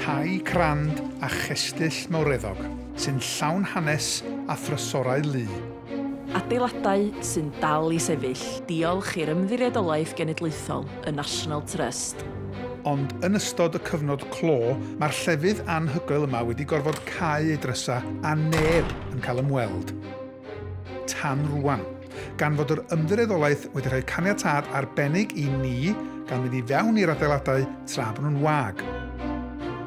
Tai crand a chestyll mawreddog sy'n llawn hanes a thrysorau lu. Adeiladau sy'n dal i sefyll diolch i'r Ymddiriedolaeth Genedlaethol, y National Trust. Ond yn ystod y cyfnod clo, mae'r llefydd anhygoel yma wedi gorfod cau ei drysau a neb yn cael ymweld. tan rwan, gan fod yr ymddiriedolaeth wedi rhoi caniatâd arbennig i ni gan mynd i fewn i'r adeiladau tra bod nhw'n wag.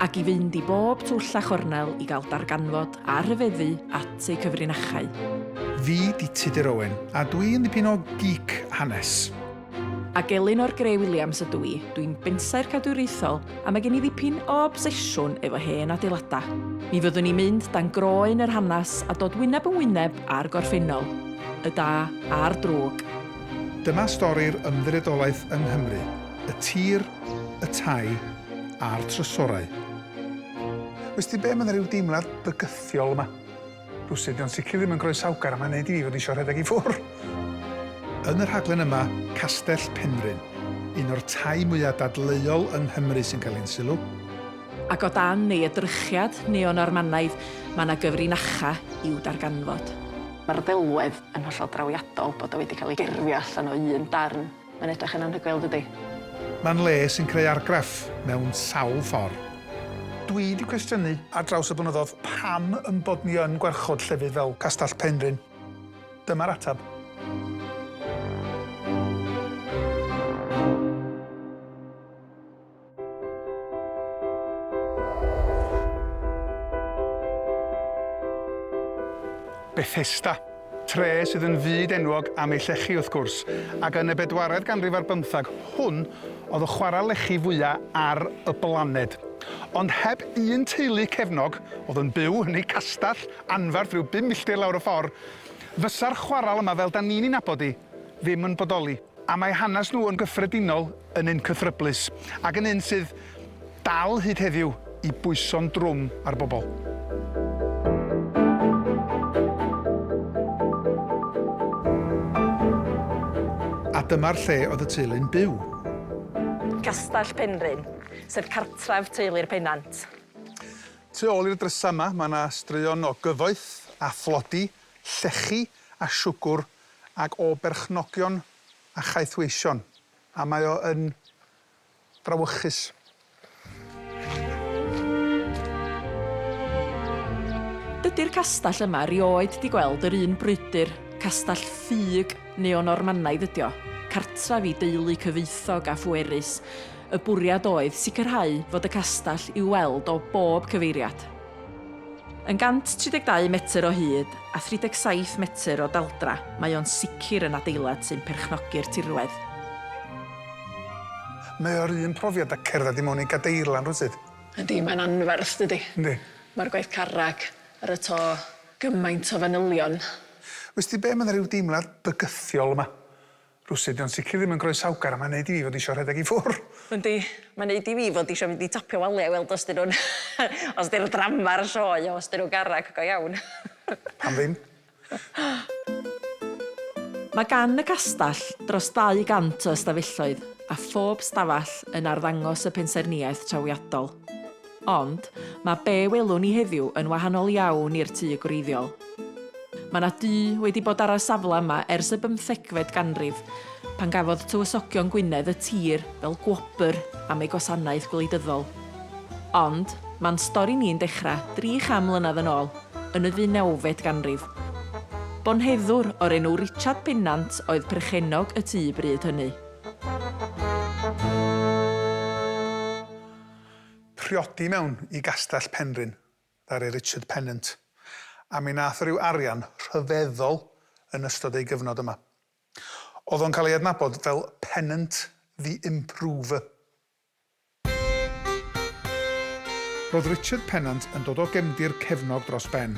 Ac i fynd i bob twll a chornel i gael darganfod a rhyfeddu at eu cyfrinachau. Fi 'di Tudur Owen, a dwi yn ddipyn o geek hanes. Ac Elinor Grey Williams ydw i, dwi'n bensaer cadwriaethol a mae gen i ddipyn o obsesiwn efo hen adeiladau. Mi fyddwn i'n mynd dan groen yr hanes a dod wyneb yn wyneb â'r gorffennol, y da a'r drwg. Dyma stori'r ymddiriedolaeth yng Nghymru, y tir, y tai a'r trysorau. Wsti be, mae 'na ryw deimlad bygythiol yma. Rhywsut, dio'n sicr ddim yn groesawgar a mae'n neud i fi fod isio rhedeg i ffwr'. Yn y rhaglen yma, Castell Penrhyn, un o'r tai mwya' dadleuol yng Nghymru sy'n cael ein sylw. Ac o dan ei edrychiad neo-Normanaidd, mae yna gyfrinacha i'w darganfod. Mae'r ddelwedd yn hollol drawiadol bod o wedi cael ei gerfio allan o un darn. Mae'n edrych yn anhygoel, dydi? Mae'n le sy'n creu argraff mewn sawl ffor. Dwi 'di cwestiynu ar draws y blynyddodd pam yn bod ni yn gwarchod llefydd fel Castell Penrhyn. Dyma'r ateb. Bethesda, tre sydd yn fyd enwog am ei llechi wrth gwrs, ac yn y bedwaredd ganrif ar bymthag, hwn oedd y chwarae lechi fwyaf ar y blaned. Ond heb un teulu cefnog, oedd yn byw yn eu castell anferth rhyw bum milltir lawr y ffordd, fysa'r chwaral yma, fel da ni'n ei nabod hi, ddim yn bodoli. A mae hanes nhw yn gyffredinol yn un cythryblus, ac yn un sydd dal hyd heddiw i bwyso'n drwm ar bobl. A dyma'r lle oedd y teulu'n byw. Castell Penrhyn, sef cartref teulu'r Pennant. Tu ôl i'r drysau yma, mae yna straeon o gyfoeth a thlodi, llechi a siwgr ac o berchnogion a chaethweision, a mae o yn frawychus. Dydi'r castell yma rioed 'di gweld yr un brwydr, castell ffug neo-Normanaidd ydi o, cartref i deulu cyfoethog a phwerus. Y bwriad oedd sicrhau fod y castell i'w weld o bob cyfeiriad. Yn 132 metr o hyd a 37 metr o daldra, mae o'n sicr yn adeilad sy'n perchnogi'r tirwedd. Mae o'r un profiad â cerdded i mewn i gadeirlan rywsut. Yndi, mae'n anferth, dydi? Yndi. Mae'r gwaith carreg ar y to, gymaint o fanylion. Wsti be, mae 'na ryw deimlad bygythiol yma. Rywsut 'di o'n sicr ddim yn groesawgar a mae'n neud i fi fod isio rhedeg i ffwr'. Yndi, mae'n neud i fi fod isio mynd i topio waliau i weld os 'dyn nhw'n os 'di'r ddrama ar y sioe os 'dyn nhw'n garreg go iawn. Pam ddim? Mae gan y castell dros 200 o ystafelloedd a phob stafell yn arddangos y pensaernïaeth trawiadol. Ond, mae be welwn ni heddiw yn wahanol iawn i'r tŷ gwreiddiol. Mae yna dŷ wedi bod ar y safle yma ers y bymthegfed ganrif, pan gafodd Tywysogion Gwynedd y tir fel gwobr am ei gwasanaeth gwleidyddol. Ond, mae'n stori ni'n dechrau dri cham mlynedd yn ôl, yn y ddeunawfed ganrif. Bonheddwr o'r enw Richard Pennant oedd perchennog y tŷ bryd hynny. priodi mewn i Gastell Penrhyn, ddaru Richard Pennant, a mi nath o ryw arian rhyfeddol yn ystod ei gyfnod yma. O'dd o'n cael ei adnabod fel Pennant the Improver. Ro'dd Richard Pennant yn dod o gefndir cefnog dros ben.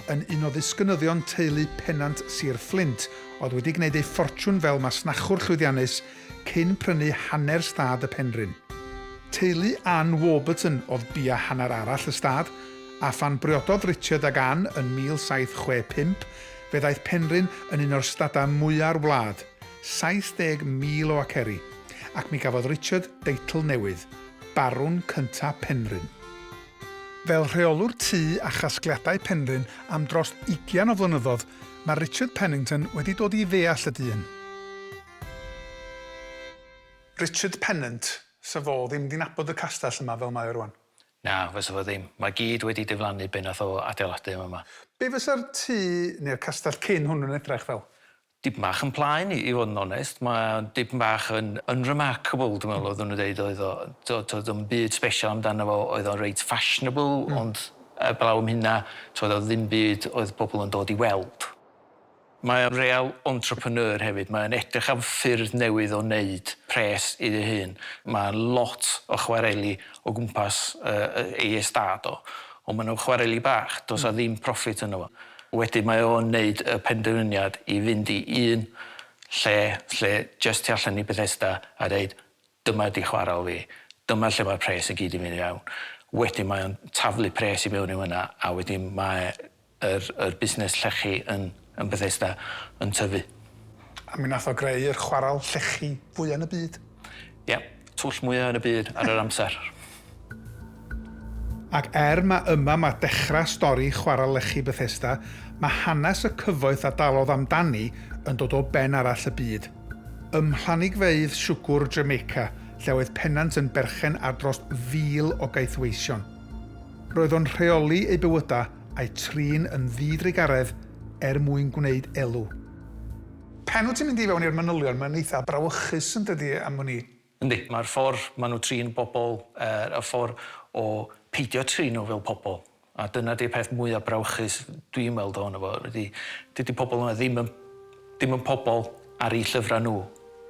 Yn un o ddisgynyddion teulu Pennant Sir Fflint, o'dd wedi gneud ei ffortiwn fel masnachwr llwyddiannus cyn prynu hanner stad y Penrhyn. Teulu Ann Warburton oedd bia hanner arall y stad, a phan briododd Richard ag Ann yn 1765, fe ddaeth Penrhyn yn un o'r stadau mwya'r wlad, 70,000 o aceri, ac mi gafodd Richard deitl newydd, Barwn Cynta' Penrhyn. Fel rheolwr tŷ a chasgliadau Penrhyn am dros ugian o flynyddoedd, mae Richard Pennington wedi dod i ddeall y dyn. Richard Pennant, 'Sa fo ddim 'di nabod y castell yma fel mae o rŵan. Na, fysa fo ddim. Mae gyd wedi diflannu be nath o adeiladu yn fama. Be fysa'r tŷ neu'r castell cyn hwn yn edrach fel? Dipyn bach yn plaen i fod yn onest. Mae o dipyn bach yn unremarkable dwi'n meddwl oeddwn nhw'n deud oedd o t'od doedd o'm byd sbesial amdano fo oedd o'n reit fashionable ond 'eblaw am hynna t'od o'dd ddim byd oedd pobl yn dod i weld. Mae o'n real entrepreneur hefyd, mae o'n edrych am ffyrdd newydd o wneud pres iddi hun. Mae lot o chwareli o gwmpas ei estâd o, ond maen nhw'n chwareli bach, does 'na ddim profit ynddo fo. Wedyn mae o'n wneud y penderfyniad i fynd i un lle, lle jyst tu allan i Bethesda, a deud Dyma ydi chwarel fi. Dyma lle mae'r pres i gyd yn mynd i fewn. Wedyn mae o'n taflu pres i fewn i fynna a wedyn mae yr yr busnes llechi yn yn Bethesda yn tyfu. A mi nath o greu'r chwarel llechi fwya yn y byd. Ia. Twll mwya yn y byd ar yr amser. Ac er mae yma mae dechrau stori chwarae lechi Bethesda, mae hanes y cyfoeth a dalodd amdani yn dod o ben arall y byd. Ym mhlanigfeydd siwgwr Jamaica, lle oedd Pennant yn berchen ar dros 1,000 o gaethweision. Roedd o'n rheoli eu bywydau a'u trin yn ddi-drugaredd er mwyn gwneud elw. Pan wyt ti'n mynd i fewn i'r manylion mae'n eitha' brawychus yn dydi am wn i. Yndi, mae'r ffordd maen nhw trin bobl yy y ffordd o peidio trin nhw fel pobl, a dyna 'di'r peth mwya' brawychus dwi'n weld ohono fo ydi dydi pobl yma ddim yn ddim yn pobl ar eu llyfrau nhw.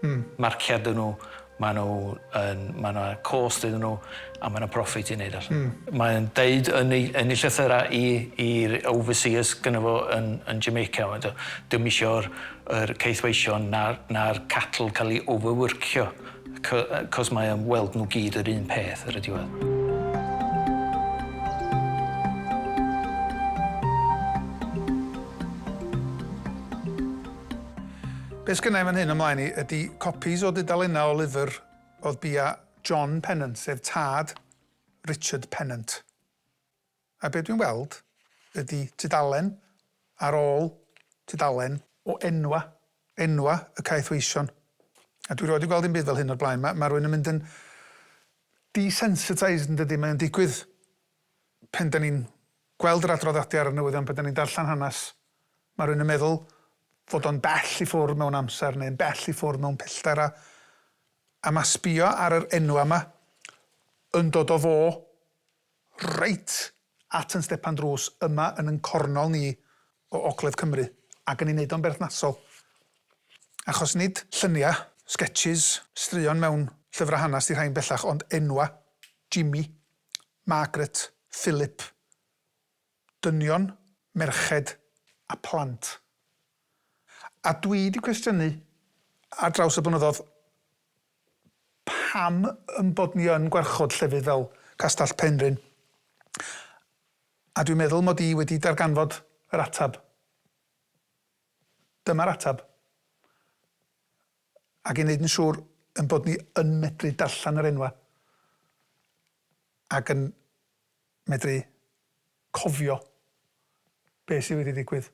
Hmm. Marciau 'dyn nhw, maen nhw yn ma' 'na cost iddyn nhw. A mae 'na profit i neud allan. Mm. Mae'n deud yn ei, yn ei llythyra i, i'r overseers gyda fo yn, yn Jamaica, mae'n dweud, dim eisiau'r er ceithweision na'r, na'r cattle cael ei overworkio, cos mae am weld nhw gyd yr un peth ar y diwedd. Be' sgynnai fan hyn ymlaen i ydi copies o dudalennau o lyfr oedd bia John Pennant, sef tad Richard Pennant. A be dwi'n weld ydi tudalen ar ôl tudalen o enwau, enwau y caethweision. A dwi 'rioed 'di gweld dim byd fel hyn o'r blaen. Ma' ma' rywun yn mynd yn desensitised yndydi? Mae o'n digwydd pan 'dan ni'n gweld yr adroddiadau ar y newyddion, pan 'dan ni'n darllen hanes, ma' rywun yn meddwl fod o'n bell i ffwrdd mewn amser neu'n bell i ffwrdd mewn pellter a A ma sbio ar yr enwa ma yn dod o fo reit at yn stepan drws yma yn yn cornol ni o ogledd Cymru ac yn ei neud o'n berthnasol achos nid llynia, sketches, straeon mewn llyfra hanas di rhain bellach ond enwa, Jimmy, Margaret, Philip, dynion, merched a phlant. A dwi 'di cwestiynu ar draws y blynyddodd pam yn bod ni yn gwarchod llefydd fel Castell Penrhyn, a dwi'n meddwl mod i wedi darganfod yr ateb. Dyma'r ateb. Ac i wneud yn siŵr ein bod ni yn medru darllen yr enwau ac yn medru cofio beth sydd wedi digwydd.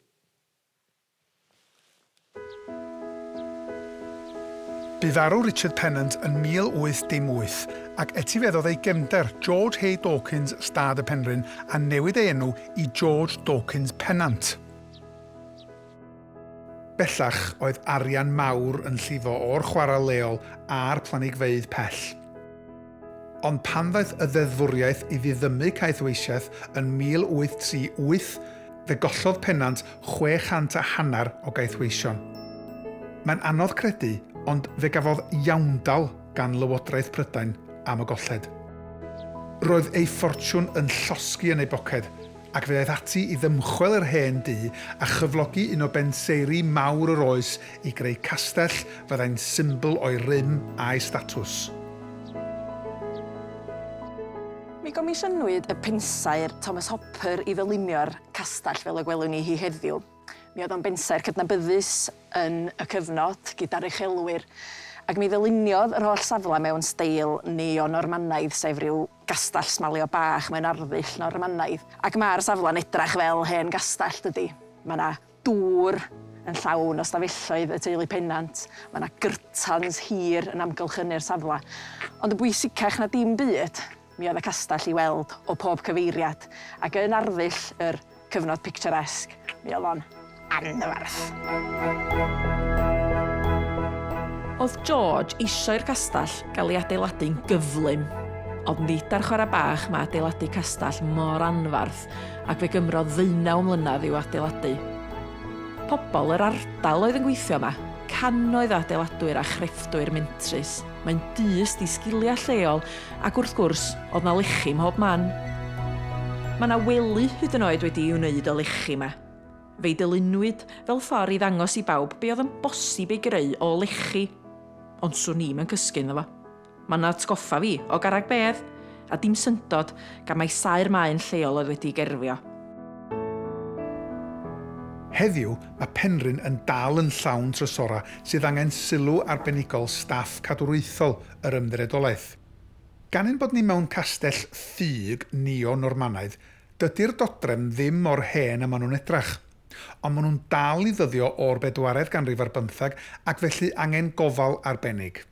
Bu farw Richard Pennant yn 1818, ac etifeddodd ei gefnder, George Hay Dawkins, stad y Penrhyn, a newid ei enw i George Dawkins Pennant. Bellach, oedd arian mawr yn llifo o'r chwarel leol a'r planigfeydd pell. Ond pan ddaeth y ddeddfwriaeth i ddiddymu caethweisiaeth yn 1838, fe gollodd Pennant chwe chant a hanner o gaethweision. Mae'n anodd credu, ond fe gafodd iawndal gan Lywodraeth Prydain am y golled. Roedd ei ffortiwn yn llosgi yn ei boced, ac fe aeth ati i ddymchwel yr hen dŷ a chyflogi un o benseiri mawr yr oes i greu castell fyddai'n symbl o'i rym a'i statws. Mi gomisiynwyd y pensaer Thomas Hopper i ddylunio'r castell fel y gwelwn ni hi heddiw. Mi oedd o'n bensaer cydnabyddus yn y cyfnod gyda'r uchelwyr ac mi ddyluniodd yr holl safle mewn steil neo-Normanaidd sef rhyw Gastell smalio bach mewn arddull Normanaidd, ac mae'r safle'n edrach fel hen gastell, dydi? Mae 'na dŵr yn llawn o stafelloedd y teulu Pennant, mae 'na gyrtans hir yn amgylchynu'r safle, ond yn bwysicach na dim byd, mi oedd y castell i weld o pob cyfeiriad, ac yn arddull yr Cyfnod picturesque, mi oedd o'n anferth. Oedd George eisiau i'r castell gael ei adeiladu'n gyflym, ond nid ar chwarae bach mae adeiladu castell mor anferth ac fe gymrodd ddeunaw mlynedd i'w adeiladu. Pobl yr ardal oedd yn gweithio yma, cannoedd o adeiladwyr a chrefftwyr mentrus. Mae'n dyst i sgiliau lleol Ac wrth gwrs, oedd 'na lechi mhob man. Mae 'na wely hyd yn oed wedi'i wneud o lechi 'ma. Fe'i dylunwyd fel ffor' i ddangos i bawb be' oedd yn bosib ei greu o lechi. Ond 'swn i'm yn cysgu ynddo fo. Mae'n atgoffa fi o garreg bedd, a dim syndod gan mai saer maen lleol oedd wedi'i gerfio. Heddiw, mae Penrhyn yn dal yn llawn trysorau sydd angen sylw arbenigol staff cadwraethol yr Ymddiriedolaeth. Gan ein bod ni mewn castell ffug neo-Normanaidd, dydi'r dodrefn ddim mor hen a maen nhw'n edrach. Ond maen nhw'n dal i ddyddio o'r bedwaredd ganrif ar bymthag ac felly angen gofal arbennig.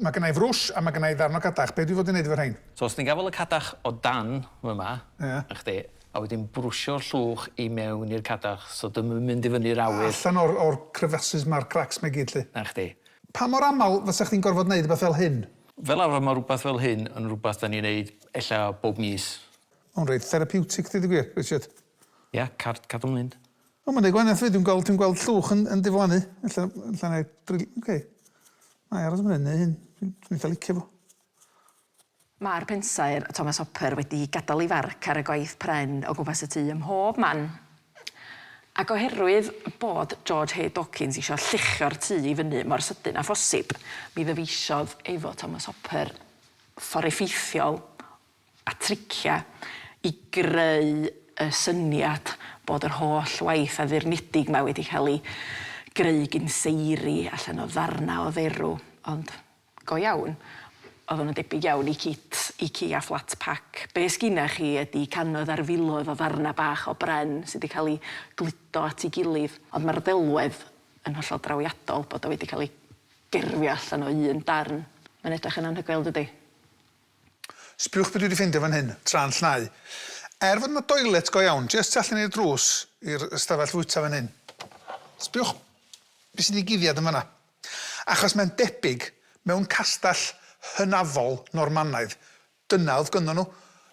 Mae gynna i frwsh a mae gynna i ddarn o cadach, be dwi fod i wneud efo rhein? So os ti'n gafael y cadach o dan fy ma, na chdi, a wedyn brwsio'r llwch i mewn i'r cadach so dio'm yn mynd i fyny'r awyr. Allan o'r o'r crevaces ma'r cracks ma i gyd lly. Na chdi. Pa mor aml fysech chdi'n gorfod neud rwbeth fel hyn? Fel arfer mae rhywbeth fel hyn yn rhywbeth dan ni'n neud ella bob mis. Mae'n reit therapiwtig deud y gwir, Richard. Ia, card cadw'n mynd. O, mae'n neud gwahaniaeth fyd, dwi'n gweld, dwi'n gweld llwch yn, yn diflannu. Ella, ella na i dril, ok. Na i aros am hyn, neu hyn, dwi'n eitha licio fo. Mae'r pensaer Thomas Hopper wedi gadael ei farc ar y gwaith pren o gwmpas y tŷ ym mhob man. Ac oherwydd bod George H. Dawkins eisiau lluchio'r tŷ i fyny mor sydyn â phosib, mi ddyfeisiodd efo Thomas Hopper ffordd effeithiol a triciau i greu y syniad bod yr holl waith addurnedig 'ma wedi cael ei greu gin seiri allan o ddarnau o dderw, ond Go iawn. Oedden nhw'n debyg iawn i Kit, Ici a Flat Pack. Be sgynna chi ydi cannoedd ar filoedd o ddarnau bach o bren sydd wedi cael eu gludo at ei gilydd, ond mae'r ddelwedd yn hollol drawiadol bod o wedi cael ei gerfio allan o un darn. Mae'n edrych yn anhygoel, dydi? Sbïwch be dwi 'di ffeindio fan hyn, tra'n llnau. Er fod 'na doilet go iawn jest tu allan i'r drws i'r ystafell fwyta fan hyn. Sbïwch be sy'n digiddiad yn fan'na. Achos mae'n debyg, mewn castell hynafol Normanaidd, dyna oedd gynddon nhw,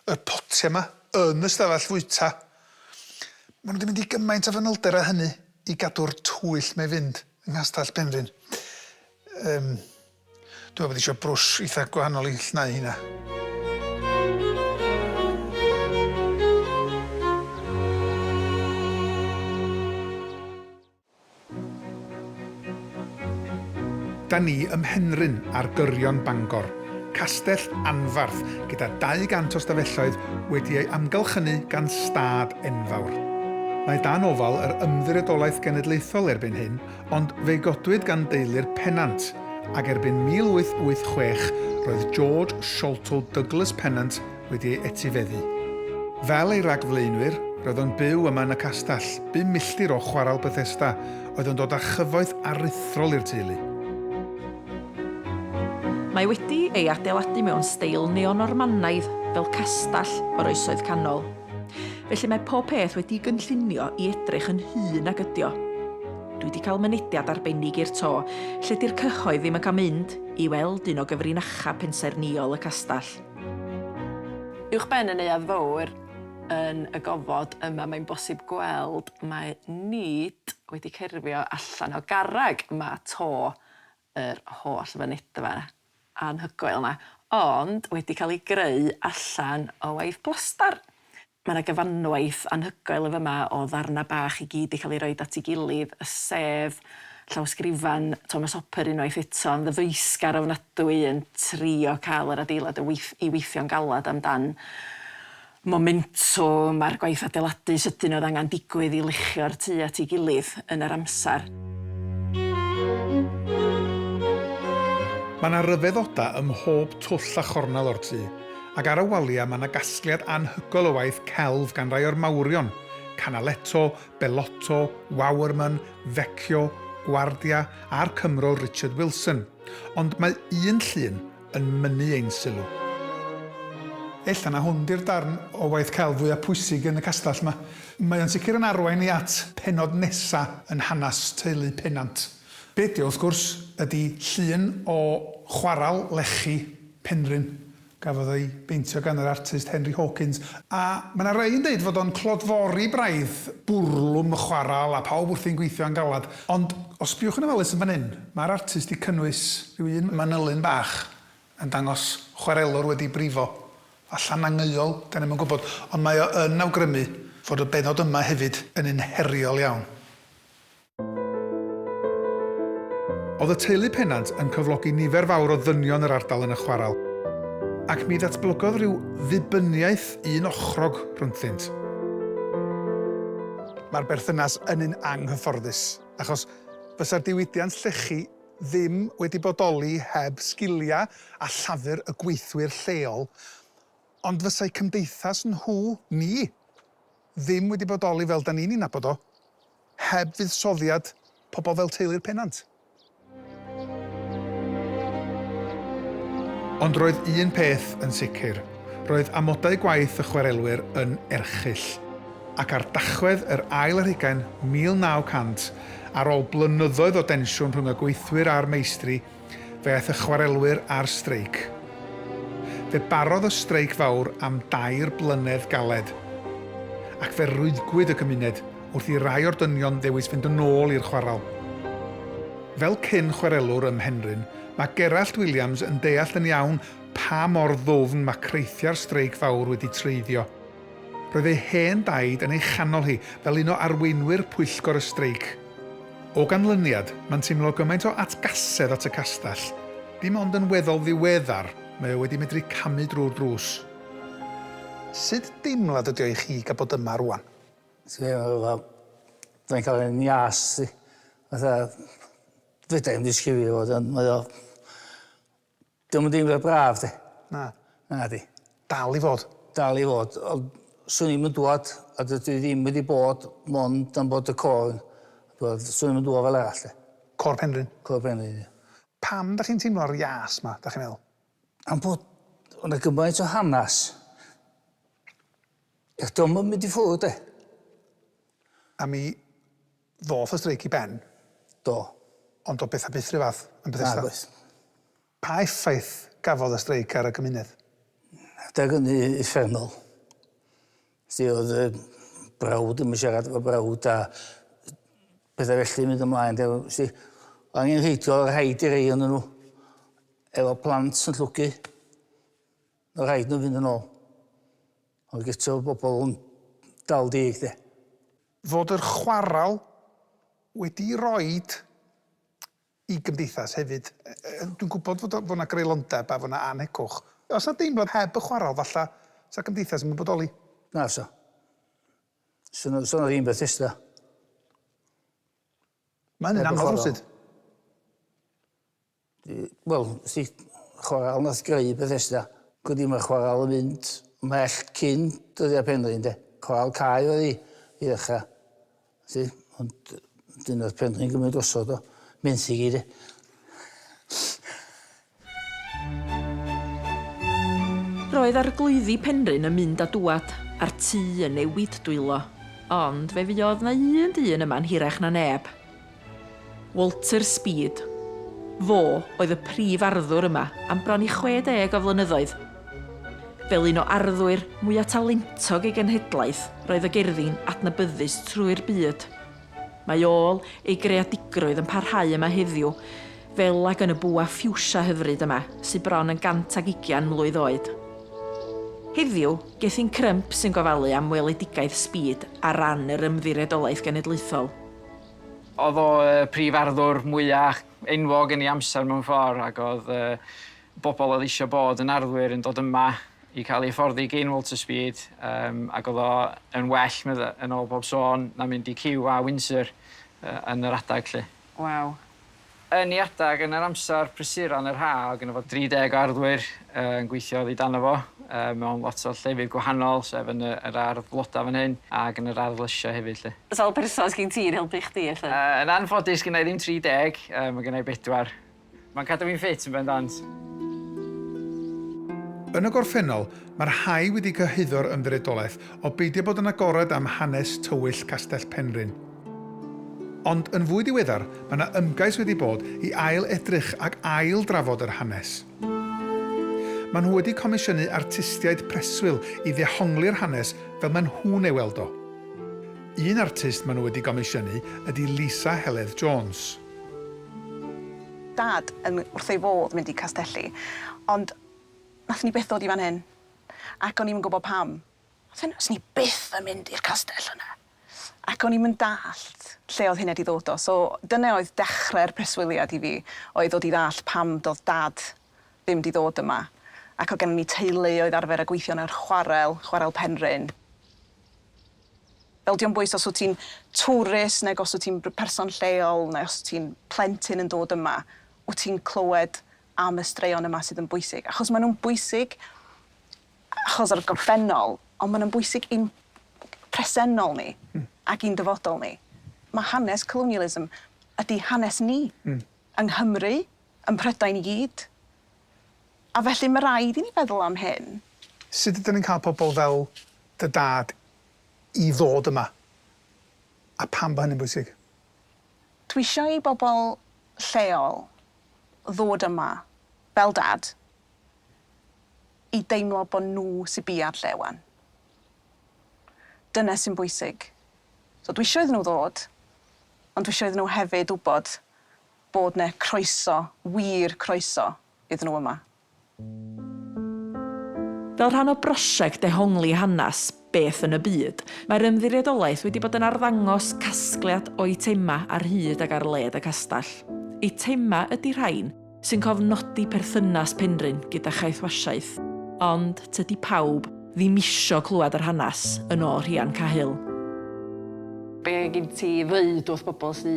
yr potiau 'ma, yn y stafell fwyta. Maen nhw 'di mynd i gymaint o fanylder â hynny i gadw'r twyll 'ma i fynd yng Nghastell Penrhyn. Yym, dwi'n meddwl bod isio brwsh eitha gwahanol i llnau heina. Da ni ym Mhenrhyn ar gyrion Bangor, castell anfarth gyda 200 o stafelloedd wedi ei amgylchynu gan stad enfawr. Mae dan ofal yr Ymddiriedolaeth Genedlaethol erbyn hyn ond fe godwyd gan deulu'r Pennant ac erbyn 1886 roedd George Sholto Douglas Pennant wedi ei etifeddu. Fel ei ragflaenwyr, roedd o'n byw yma yn y castell, bum milltir o Chwarel Bethesda, oedd yn dod â chyfoeth aruthrol i'r teulu. Mae wedi ei adeiladu mewn steil Neo-Normanaidd, fel castell o'r Oesoedd Canol. Felly mae pob peth wedi'i gynllunio i edrych yn hŷn nag ydy o. Dwi wedi cael mynediad arbennig i'r to, lle 'di'r cyhoedd ddim yn cael mynd, i weld un o gyfrinachau pensaernïol y castell. Uwchben y Neuadd Fawr, yn y gofod yma mae'n bosib gweld mae Nid wedi cerfio allan o garreg yma 'to, yr holl fynedfa anhygoel 'na, ond wedi cael ei greu allan o waith plastar. Mae yna gyfanwaith anhygoel yn fama o ddarnau bach i gyd 'di cael eu rhoi at ei gilydd, y sedd, llawysgrifan Thomas Hopper unwaith eto, yn ddyfeisgar ofnadwy yn trio cael yr adeilad yn weith- i weithio'n galed am dan momentwm a'r gwaith adeiladu sydyn oedd angen digwydd i luchio'r tŷ at ei gilydd yn yr amser. Mae yna ryfeddodau ym mhob twll a chornel o'r tŷ. Ac ar y waliau mae 'na gasgliad anhygoel o waith celf gan rai o'r mawrion, Canaletto, Bellotto, Wouwerman, Vecchio, Guardia a'r Cymro Richard Wilson, ond mae un llun yn mynnu ein sylw. Ella na hwn 'di'r darn o waith celf fwya' pwysig yn y castell 'ma. Mae o'n sicr yn arwain ni at pennod nesa' yn hanes teulu Pennant. Be' 'di o, wrth gwrs, ydi llun o chwaral lechi Penrhyn. Gafodd ei beintio gan yr artist Henry Hawkins, a mae 'na rai yn deud fod o'n clodfori braidd, bwrlwm y chwarel a phawb wrthi'n gweithio'n galed. Ond os sbïwch yn ofalus yn fan hyn, mae'r artist 'di cynnwys rhyw un manylyn bach yn dangos chwarelwr wedi brifo, falla'n angheuol, 'dan ni'm yn gwybod, ond mae o yn awgrymu fod y bennod yma hefyd yn un heriol iawn. Oedd y teulu Pennant yn cyflogi nifer fawr o ddynion yr ardal yn y chwarel, ac mi ddatblygodd ryw ddibyniaeth un ochrog rhyngddynt. Mae'r berthynas yn un anghyfforddus, achos fysa'r diwydiant llechi ddim wedi bodoli heb sgiliau a llafur y gweithwyr lleol, ond fysa'u cymdeithas nhw, ni, ddim wedi bodoli fel 'da ni'n ei nabod o. Heb fuddsoddiad pobl fel teulu'r Pennant. Ond roedd un peth yn sicr, roedd amodau gwaith y chwarelwyr yn erchyll. Ac ar Dachwedd yr ail ar hugain 1900, ar ôl blynyddoedd o densiwn rhwng y gweithwyr a'r meistri, fe aeth y chwarelwyr ar streic. Fe barodd y streic fawr am dair blynedd galed, ac fe rwyddgwyd y gymuned wrth i rai o'r dynion ddewis fynd yn ôl i'r chwarel. Fel cyn-chwarelwr ym Mhenrhyn, mae Gerallt Williams yn deall yn iawn pa mor ddwfn mae creithiau'r streic fawr wedi treiddio. Roedd ei hen daid yn ei chanol hi fel un o arweinwyr pwyllgor y streic. O ganlyniad, mae'n teimlo gymaint o atgasedd at y castell, dim ond yn weddol ddiweddar mae o wedi medru camu drwy'r drws. Sut deimlad ydi o i chi gael bod yma rŵan? Teimlo fel dwi'n cael fy njas i, fatha fedra i'm disgrifio fo 'de ond mae o Dio'm yn deimlad braf 'de. Na. Nadi. Dal i fod. Dal i fod ond swn i'm yn dŵad a dydw i ddim wedi bod mond am bod y côr t'wod swn i'm yn dŵad fel arall 'de. Côr Penrhyn? Côr Penrhyn ia. Pam 'dach chi'n teimlo'r ias 'ma 'dach chi'n meddwl? Am bod o' 'na gymaint o hanas. Ia dio'm yn mynd i ffwr' 'de. A mi Ddoth y streic i ben? Do. Ond doedd pethau byth yr un fath yn Bethesda. Nag oedd. Pa effaith gafodd y streic ar y gymuned? Adeg hynny uffernol. Felly oedd y brawd ddim yn siarad efo brawd a pethau felly yn mynd ymlaen. De, felly, o angenrheidiol oedd rhaid i rei ohonyn nhw efo plant yn llwgu. Oedd rhaid nhw fynd yn ôl. Ond gyto oedd bobl yn dal deg de. fod yr chwarel wedi roi i gymdeithas hefyd. Dwi'n gwybod fod o, fod yna greulondeb a fod yna annhegwch. Os na deimlad heb y chwarel, falla, sa gymdeithas ddim yn bodoli. Na fasa. Sa na, sa na ddim Bethesda. Mae hynny'n anodd rywsut. Wel, wsti, chwarel nath greu Bethesda, cwdi dyma chwarel yn mynd mellt cyn dyddia Penrhyn de. Chwarel cae oedd hi i ddechra. Wsti, ond wedyn nath Penrhyn gymryd drosodd o, menthyg hi de. Roedd arglwyddi Penrhyn yn mynd a dŵad, a'r tŷ yn newid dwylo. Ond fe fuodd 'na un dyn yma'n hirach na neb. Walter Speed. Fo oedd y prif arddwr yma am bron i 60 o flynyddoedd. Fel un o arddwyr mwya' talentog ei genhedlaeth roedd y gerddi'n adnabyddus trwy'r byd. Mae ôl ei greadigrwydd yn parhau yma heddiw, fel ag yn y bwa ffiwsia hyfryd yma sy' bron yn 120 mlwydd oed. Heddiw, Gethin Crump sy'n gofalu am weledigaeth Speed ar ran yr Ymddiriedolaeth Genedlaethol. O'dd o y prif arddwr mwya enwog yn ei amser mewn ffor ag o'dd y bobol o'dd eisio bod yn arddwyr yn dod yma i ca'l eu hyfforddi gin Walter Speed yym ag o'dd o yn well medda- yn ôl bob sôn na mynd i QA Windsor yy yn yr adag 'lly. Waw. Yn ei adeg yn yr amser prysuron yr ha oedd gynno fo 30 o arddwyr yn gweithio oddi dano fo mewn lot o llefydd gwahanol sef yn yr ardd floda fan hyn ac yn yr ardd lysia hefyd 'lly. Sawl person sgin ti yn helpu chdi felly? Yn anffodus gynna i ddim 30 yy ma' gynna i bedwar. Ma'n cadw fi'n ffit yn bendant. Yn y gorffennol, mae'r rhai wedi cyhuddo'r ymddiriedolaeth o beidio bod yn agored am hanes tywyll Castell Penrhyn. Ond yn fwy diweddar, mae yna ymgais wedi bod i ail-edrych ac ail-drafod yr hanes. Maen nhw wedi comisiynu artistiaid preswyl i ddehongli'r hanes fel maen nhw'n ei weld o. Un artist maen nhw wedi gomisiynu ydy Lisa Heledd Jones. Dad yn wrth ei fodd mynd i Castelli, ond wnaethon ni byth ddod i fan hyn, ac o'n i'm yn gwybod pam. Fyswn i byth yn mynd i'r castell yna. Ac o'n i'm yn dallt lle oedd hynna 'di ddod o. So, dyna oedd dechrau'r preswyliad i fi, oedd ddod i ddallt pam doedd Dad ddim 'di ddod yma. Ac oedd gennym ni teulu oedd arfer â gweithio yn yr chwarel, Chwarel Penrhyn. Fel, dio'm bwys os wyt ti'n twrist nag os wyt ti'n person lleol neu os wyt ti'n plentyn yn dod yma, wyt ti'n clywed am y straeon yma sydd yn bwysig. Achos maen nhw'n bwysig achos o'r gorffennol, ond mae'n bwysig i'n presennol ni ac i'n dyfodol ni. Mae hanes colonialism ydy hanes ni, yng Nghymru, ym Mhrydain i gyd. A felly mae rhaid i ni feddwl am hyn. Sut ydyn ni'n cael pobl fel dy dad i ddod yma, a pam bod hynny'n bwysig? Dwi eisiau i bobl lleol ddod yma, fel dad, i deimlo bod nhw sy biau'r lle 'wan. Dyna sy'n bwysig. So dwi isio iddyn nhw ddod, ond dwi isio iddyn nhw hefyd wybod bod 'na croeso, wir croeso, iddyn nhw yma. Fel rhan o brosiect dehongli hanes, Beth yn y byd? Mae'r Ymddiriedolaeth wedi bod yn arddangos casgliad o eitemau ar hyd ac ar led y castell. Eitemau ydy rhain sy'n cofnodi perthynas Penrhyn gyda Chaethwasiaeth, ond tydi pawb ddim isio clywed yr hanes, yn ôl Rhian Cahill. Be gin ti i ddeud wrth bobl sy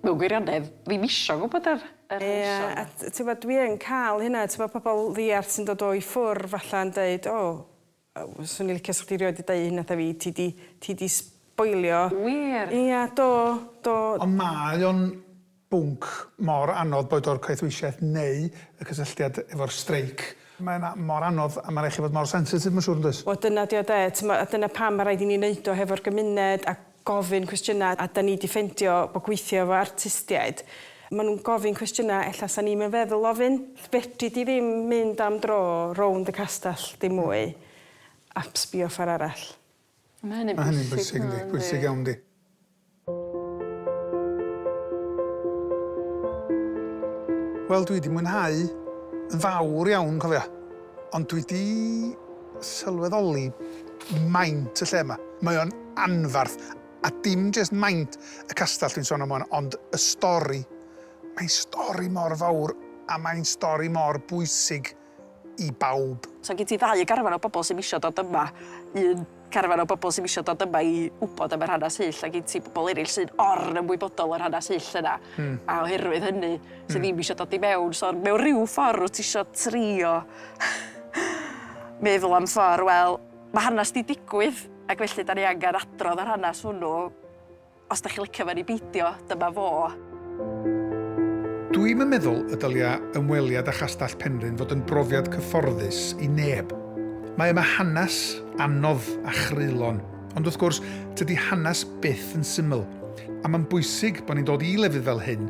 mewn gwirionedd ddim isio gwybod yr hanesion? Ie, a tibod dwi yn cael hynna, tibod pobl ddiarth sy'n dod o i ffwrdd falle yn deud, o, Swn i licio sa chdi rioed di deu hyn natha fi ti di ti di sboilio. Wir? Ia do do. Ond mae o'n bwnc mor anodd boed o'r caethweisiaeth neu y cysylltiad efo'r streic. Mae yna mor anodd a ma' raid chi fod mor sensitif ma' siŵr yndoes? Wel dyna 'di o 'de, t'mo' a dyna pam ma' raid i ni neud o hefo'r gymuned a gofyn cwestiynau a 'da ni 'di ffeindio bod gweithio efo artistiaid maen nhw'n gofyn cwestiynau ella 'sa ni'm yn feddwl ofyn. Fedri di ddim mynd am dro rownd y castell dim mwy a sbio ffor arall. A ma' hynny'n bwysig. Ma' hynny'n bwysig yndi? Bwysig iawn 'di. Wel dwi 'di mwynhau yn fawr iawn cofia ond dwi 'di sylweddoli maint y lle yma. Mae o'n anfarth, a dim jest maint y castell dwi'n sôn am ŵan, ond y stori. Mae'n stori mor fawr, a mae'n stori mor bwysig i bawb. So gen ti ddau garfan o bobl sy'm isio dod yma. Un carfan o bobl sy'm isio dod yma i wybod am yr hanes hyll, a gen ti bobl eraill sy'n or-ymwybodol o'r hanes hyll yna. A oherwydd hynny, sy' ddim isio dod i mewn. So mewn rhyw ffordd, wyt ti isio trio... meddwl am ffordd, wel, mae hanes 'di digwydd ac felly 'dan ni angen adrodd yr hanes hwnnw. Os 'dach chi'n licio fe neu beidio, dyma fo. Dwi'm yn meddwl y dylia ymweliad â Chastell Penrhyn fod yn brofiad cyfforddus i neb. Mae yma hanes anodd a chreulon, ond wrth gwrs, tydi hanes byth yn syml, a mae'n bwysig bod ni'n dod i lefydd fel hyn